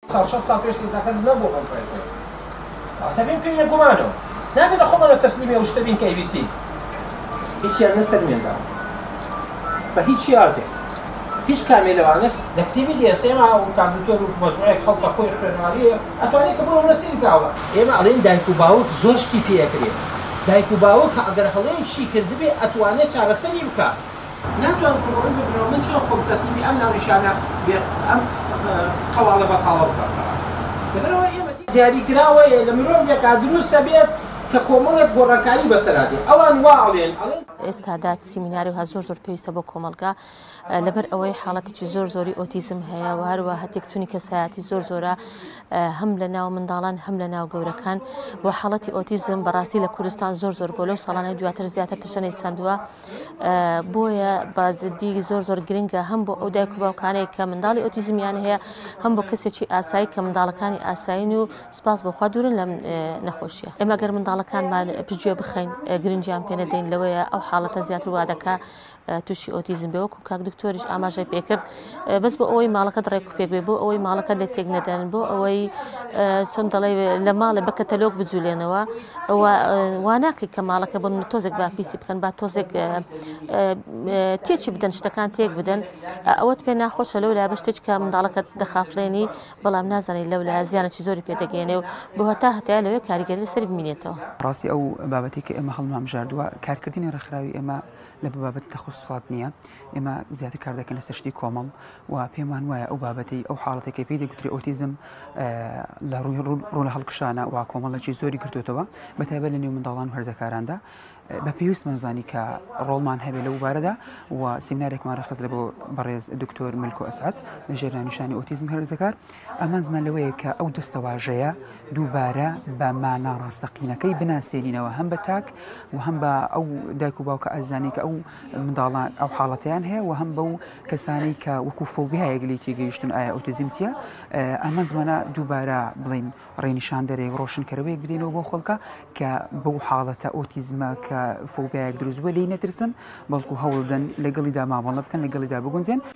ساڵ شەست ساڵ پێش ئێستا کەس نەبووە بەم ڕێژەیە واتە بێ بکەین لە گومانەوە نابێ لە خۆمانەوە تەسلیمی ئەو شتە بین کە ئەیویستین هیچیان نەسەلمێنراوە بە هیچ شێوازێک هیچ کامێ لەوانە لە کتێبی دێسێما و کاک دکتۆر و مەجموعەیەک خەڵکە خۆی خوێنەواری ئەتوانێ کە بڕۆ هەڵە سەیری کاوە. ئێمە ئەڵێین دایک و باوک زۆر شتی پێ ئەکرێ دایک و باوک ئەگەر هەڵەیەکشی کردبێ ئەتوانێ چارەسەری بکا، ناتوان ڕووبەڕووی ببنەوە من چۆن خۆم تەسلیمی ئەم ناونیشانە بێ ئەم قەواڵە بەتاڵە بکەم خەڵاس لەبەرئەوە ئێمە دیاریکراوەیە لە مرۆڤێکا دروست ئەبێت کە کۆمەڵێک گۆڕانکاری بەسەرا دێ ئەوان وا ئەڵێن ئەڵێن. ئێستا دات سیمیناری هە زۆر زۆر پێویستە بۆ کۆمەڵگا لەبەر ئەوەی حاڵەتێکی زۆر زۆری ئۆتیزم هەیە و هەروە هەتێکچوونی کەسایەتی زۆر زۆرە هەم لە ناو منداڵان هەم لە ناو گەورەکان و حاڵەتی ئۆتیزم بەڕاستی لە کوردستان زۆر زۆر بۆ لەو ساڵانەی دواتر زیاتر تەشەنەی سندووە بۆیە بازدی زۆر زۆر گرنگە هەم بۆ ئەو دایک و باوکانەیە کە منداڵی ئۆتیزمیان هەیە هەم بۆ کەسێکی ئاسایی کە منداڵەکانی ئاسایین و سپاس بۆخوا دوورن لەم نەخۆشیە ئێمە گەر منداڵەکانمان پژێ بخەین گرنجیان پێنەدەین لەوەیە ئەو حاڵەتە زیاتر وادەکە تووشی ئۆتیزم بێوەکو کاک دکتۆریش ئاماژە پێکرد بەس بۆ ئەوەی ماڵەکەت ڕێک و پێک بێ بۆ ئەوەی ماڵەکەت لێ تێک نەدەن بۆ ئەوەی چۆن دەڵێ لە ماڵێ بە کەتەلۆک بجولێنەوە واناکەی کە ماڵەکە بۆ من تۆزێک با پیسی بکەن با تۆزێک تێچی بدەن شتەکان تێک بدەن ئەوەت پێ ناخۆشە لەو لا بە شتێک کە منداڵەکەت دەخافلێنی بەڵام نازانانی لەو لا زیانە چی زۆری پێدەگەێنێ و بۆ هەتا هەتای لەوێ کاریگەری لەسەر بمینێتەوە ڕاستی ئەو بابەتی کە ئێمە هەڵمام ژاردووە کارکردنی ڕێکخراوی ئێمە لە بابەتی تەخصصات نییە ئێمە زیاتر کار دەکەین لەسەر شتی کۆمەڵ و پێمان وایە ئەو بابەتەی ئەو حاڵەتەکەی پێی دەگوتری ئۆتیزم لە ڕووی ڕوو لە هەڵکشانە و کۆمەڵێکی زۆری گرتوتەوە بە تایبەت لە نێو منداڵان و هەرزەکاراندا بە پێویستمان زانی کە ڕۆڵمان هەبێ لە وبارەدا و سیمنارێکمان ڕخست لە بۆ بەڕێز دکتۆر ملکۆ ئەسعات لە ژێرانیشانی ئۆتیزم هەرزەکار ئامانزمان لەوەیە کە ئەو دەستەواژەیە دووبارە بە مانا ڕاستەقینەکەی بناسێنینەوە هەم بە تاک و هەم بە ئەو دایک و باوکە ئازانی کە ئەو منداڵان ئەو حاڵەتیان هەیە و هەم بەو کەسانی کە وەکو فۆبیایەک لی تێگەیشتون ئایا ئۆتیزم چیە ئامانجمانە دووبارە بڵین ڕێنیشان دەرێک ڕۆشنکەرەوەیەک بدەینەوە بۆ خەڵکە کە بەو حاڵەتە ئۆتیزمە کە فۆبیایەک دروستوە لی نەترسن بەڵکو هەوڵدەن لەگەڵیدا مامەڵە بکەن لەگەڵیدا بگونجێن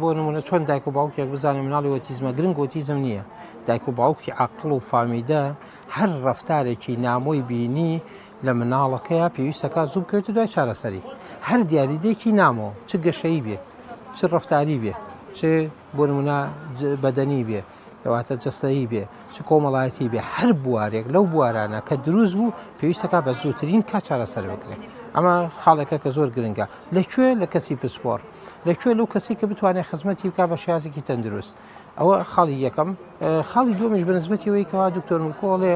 بۆ نمونە چۆن دایک و باوکێک بزانێ مناڵی وەتیزمە گرنگ وەتیزم نییە دایک و باوکی عقل و فامیدە هەر ڕفتارێکی نامۆی بینی لە مناڵەکەیە پێویستەکە زوو بکەوێتە دوای چارەسەری هەر دیاریدێکی نامۆ چ گەشەی بێ چ ڕفتاری بێ چ بۆ نمونە بەدەنی بێ کەواتە جەستەیی بێ چ کۆمەڵایەتی بێ هەر بوارێک لەو بوارانە کە دروست بوو پێویستەکە بە زووترین کا چارەسەر بکرێت ئەمە خاڵێکە کە زۆر گرنگە لەکوێ لە کەسی پسپۆر لەکوێ لەو کەسی کە بتوانێت خزمەتی بک بە شازێکی تەندروست ئەوە خاڵی یەکەم خاڵی دومیش بنسبەتیەوەی کەوا دکتۆر مکۆڵێ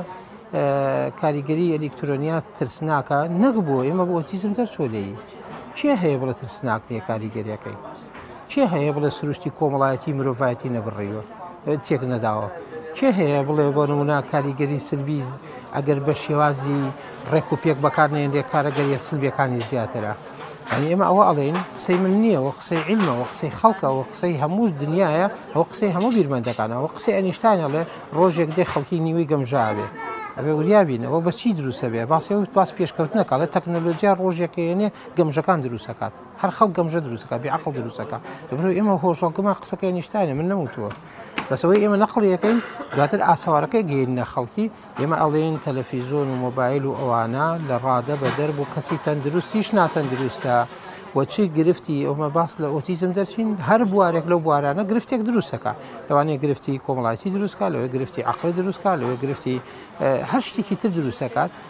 کاریگەری ئەلیکترۆنیات ترسناکە نەک بۆ ئێمە بۆ تیزم دەرچۆ لێی کێ هەیە بڵە ترسناک نیە کاریگەریەکەی کێ هەیە بڵێ سروشتی کۆمەڵایەتی مرۆڤایەتی نەبڕیوە تێک نەداوە کێ هەیە بڵێ بۆ نمونا کاریگەری سلبی ئەگەر بە شێوازی ڕێک و پێک بەکارنێن لێ کارەگەریە سلبیەکانی زیاترە ئەنی ئێمە ئەوە ئەڵێن قسەی من نییە و قسەی علمە و قسەی خەڵکە و قسەی هەموو دنیاە ئەو قسەی هەموو بیرمەندەکانەوە قسەی ئەنیشتانەڵێ ڕۆژێک دێ خەڵکی نیوەی گەمژاوێ ئەبێ وریابینەوە بەچی دروستە بێ باسی و پاس پێشکەوتنەکەڵێت تەکنەلۆجییا ڕۆژێکێنێ گەمژەکان دروستەکات هەر خەڵک گەمژە دروست ئەکا بێ عەقڵ دروست ئەکا لەبەرئەوەی ئێمە هۆشەڵگەمان قسەکەی ئەنیشتاینە من نەموتووە بەس ئەوەی ئێمە نەقڵیەکەین دواتر ئاسەوارەکەی گەیەنە خەڵکی ئێمە ئەڵێن تەلەفیزۆن و مۆبایل و ئەوانە لە ڕادە بە دەر بۆ کەسی تەندروستیش ناتەندروستە وەچی گرفتی ئەومە باس لە ئۆتیزم دەرچین هەر بوارێک لەو بوارانە گرفتێک دروستەکە لەوانەیە گرفتی کۆمەڵایەتی دروستکە لەوەی گرفتی عقل دروستکە لەوەی گرفتی هەر شتێکی تر دروستەکات